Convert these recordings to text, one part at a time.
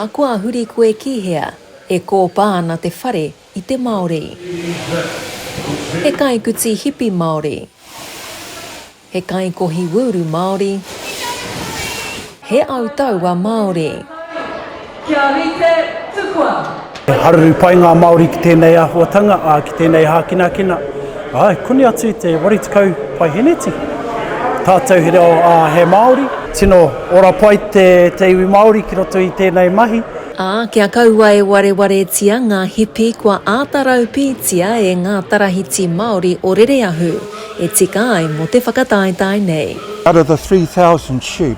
Ahakoa huri koe ki hea, e kōpā ana te whare i te Māori. He kaikuti hipi Māori. He kaikohi wūru Māori. He au taua Māori. Kia rite, tukua! He haruru pai ngā Māori ki tēnei āhuatanga, ā, ki tēnei hākinakina. Āe, koni atu i te 80 paiheneti tātou he reo, ā, he Māori. Tino ora pai te iwi Māori ki roto i tēnei mahi. Ā, kia kaua e warewaretia ngā hipi kua āta raupītia e ngā tarahiti Māori o Rereahu e tika ai mō te whakataetae nei. Out of the 3,000 sheep,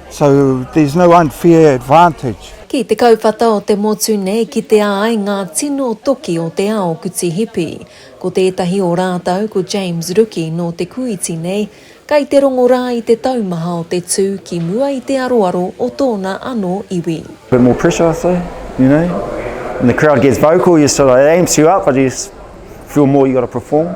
So there's no unfair advantage. Ki te kauwhata o te motu nei kitea ai ngā tino toki o te ao kuti hipi. Ko tētahi o rātau ko James Ruki nō te Kūiti nei, kai te rongo rā i te taumaha o te tū ki mua i te aroaro o tōna anō iwi. Bit more pressure I say, you know, when the crowd gets vocal you sort of, it amps you up but you feel more you got to perform.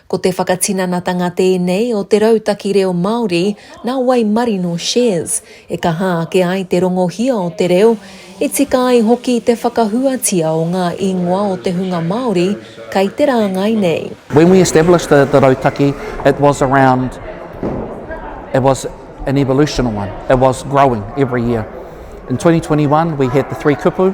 Ko te whakatinanatanga tēnei o te rautaki reo Māori nā Waimarino Shares, e kaha ake ai te rongohia o te reo, e tika ai hoki te whakahuatia o ngā ingoa o te hunga Māori kei te rāngai nei. When we established the the rautaki it was around it was an evolutional one it was growing every year in 2021 we had the three kupu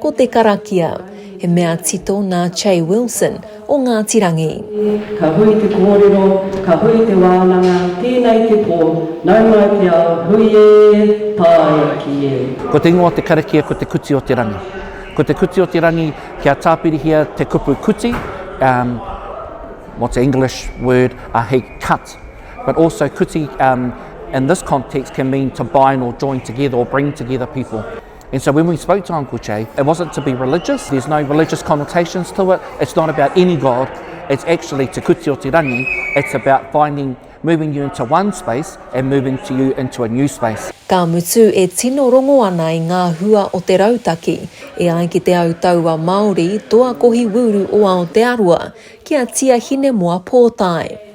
Ko te karakia, he mea tito nā Che Wilson o Ngāti Rangi. Ka hui te kōrero, ka hui te wānanga, tēnei te pō, nau mai te ao, hui ē, pā e aki ē. Ko te ingoa o te karakia ko Te Kuti o te Rangi. Ko Te Kuti o te Rangi kia tāpirihia te kupu kuti, um, what's the English word, uh, he cut. But also kuti, um, in this context can mean to bind or join together or bring together people. And so when we spoke to Uncle Jay, it wasn't to be religious, there's no religious connotations to it, it's not about any God, it's actually Te Kuti o Te Rangi, it's about finding, moving you into one space and moving to you into a new space. Ka mutu e tino rongo ana i ngā hua o te rautaki, e ai ki te au taua Māori, toa kohi wūru o Aotearoa, ki a Tia Hinemoa Pōtae.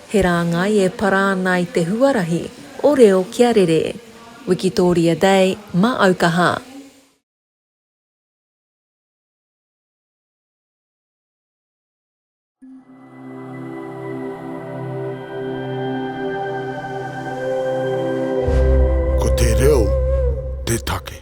He rāngai e para ana i te huarahi o reo kia rere. Wikitoria Day, ma aukaha. Ko te reo te take.